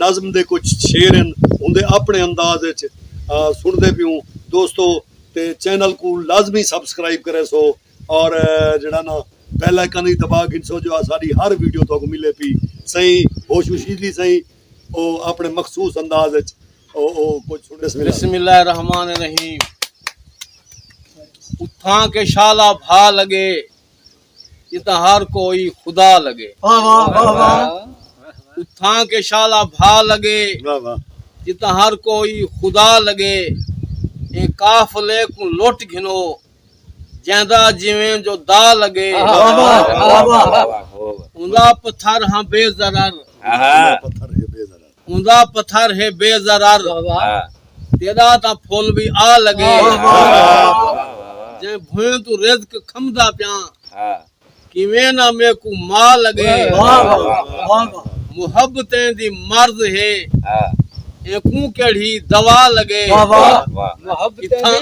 نظم دے کچھ شعر ہن اوندے اپنڑے انداز اچ سنڑدے پیوں دوستو تے چینل کوں لازمی سبسکرائب کریسو اور جیڑھا نا بیل آئیکن وی دبا گھنسو جو اساڈی ہر ویڈیو تہاکوں ملے پی سہی ہوشوشیجلی سہی او اپنڑے مخصوص انداز اچ او او کچھ سنڑیس ملا۔ بسم اللہ الرحمن الرحیم اتھاں کے شالا بھا لگے جتھاں ہر کوئی خدا لگے اتھاں کے شالا بھا لگے جتھاں ہر کوئی خدا لگے اے قافلے کو لٹ گھنو جیندا جویں جو دا لگے اندا پتھر ہاں بے ضرر اوندا پتھر ہے بے ضرر تیݙا تاں پھل وی آ لڳے جئیں بھوئیں توں رزق کھمدا پیاں کیویں نہ میکوں ما لڳے محبتیں دی مرض ہے اینکوں کیڑھی دوا لڳے اتھاں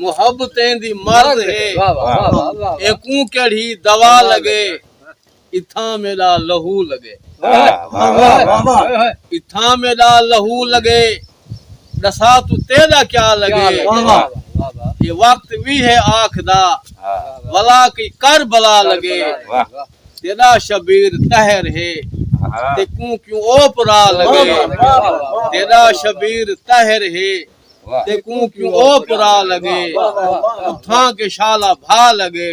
محبتیں دی مرض ہے اینکوں کیڑھی دوا لڳے۔ اتھاں میݙا لہو لڳے اتھاں میݙا لہو لڳے ݙساں توں تیݙا کیا لڳے اے وقت وی ہے آکھدا ولا کئی کر بلا لڳے تیݙا شبیر طہر ہے تیکوں کیوں اوپ را لڳے تیݙا شبیر طہر ہے تیکوں کیوں اوپ را لڳے اتھاں کے شالا بھا لڳے